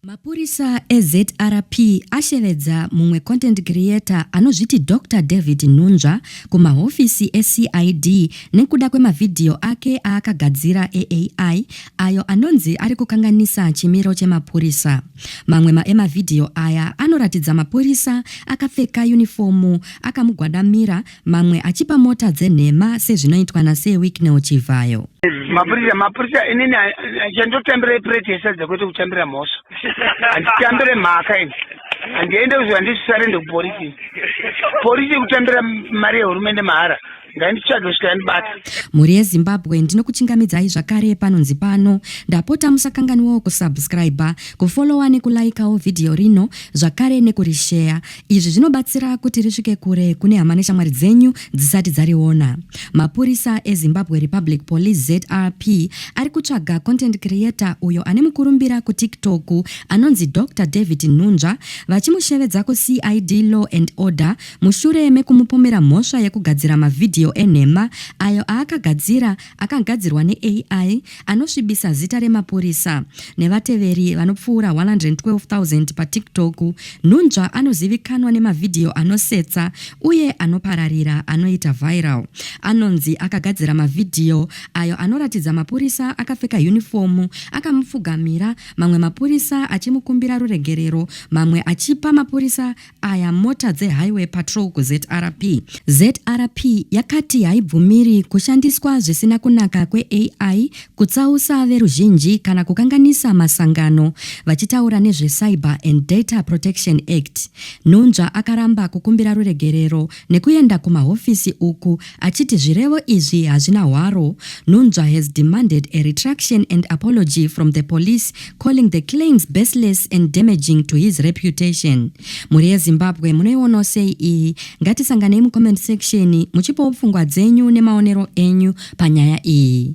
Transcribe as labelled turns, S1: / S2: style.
S1: Mapurisa eZRP ashevedza mumwe content creator anozviti Doctor David Nhunzva kumahofisi eCID nekuda kwemavhidhiyo ake aakagadzira eAI ayo anonzi ari kukanganisa chimiro chemapurisa. Mamwe ma emavhidhiyo aya anoratidza mapurisa akapfeka yunifomu akamugwadamira mamwe achipa mota dzenhema sezvinoitwa naSir Wicknell Chivhayo. Mapurisa, mapurisa
S2: inini chandotambira ipureti yesadza kwete kutambira mhosva. Handitambire mhaka ini. Handiende kuziva ndisare ndekuporisi. Porisi kutambira mari yehurumende mahara. Ngainditsvage kusvika yandibata. Mhuri yeZimbabwe
S1: ndinokuchingamidzai zvakare panonzi pano. Ndapota musakanganiwawo kusubscriber, kufollowa nekulaikawo vhidhiyo rino zvakare nekurisheya. Izvi zvinobatsira kuti risvike kure kune hama neshamwari dzenyu dzisati dzariona. Mapurisa eZimbabwe Republic Police ZRP ari kutsvaga content creator uyo ane mukurumbira kuTiktok anonzi Doctor David Nhunzva vachimushevedza kuCID Law and Order mushure mekumupomera mhosva yekugadzira mavhidhiyo enhema ayo aakagadzira akagadzirwa neAI anosvibisa zita remapurisa nevateveri vanopfuura 112,000 paTikTok, nhunzva anozivikanwa nemavhidhiyo anosetsa uye anopararira anoita viral. Anonzi akagadzira mavhidhiyo ayo anoratidza mapurisa akapfeka yunifomu akamupfugamira, mamwe mapurisa achimukumbira ruregerero, mamwe achipa mapurisa aya mota dzehighway patrol kuzrp zrp yakati haibvumiri kushandiswa zvisina kunaka kweai kutsausa veruzhinji kana kukanganisa masangano vachitaura nezvecyber and data protection act nhunzva akaramba kukumbira ruregerero nekuenda kumahofisi uku achiti zvirevo izvi hazvina hwaro, Nunzva has demanded a retraction and apology from the police calling the claims baseless and damaging to his reputation. Mhuri yeZimbabwe munoionawo sei iyi? Ngatisanganei mucomment section muchipawo pfungwa dzenyu nemaonero enyu panyaya iyi.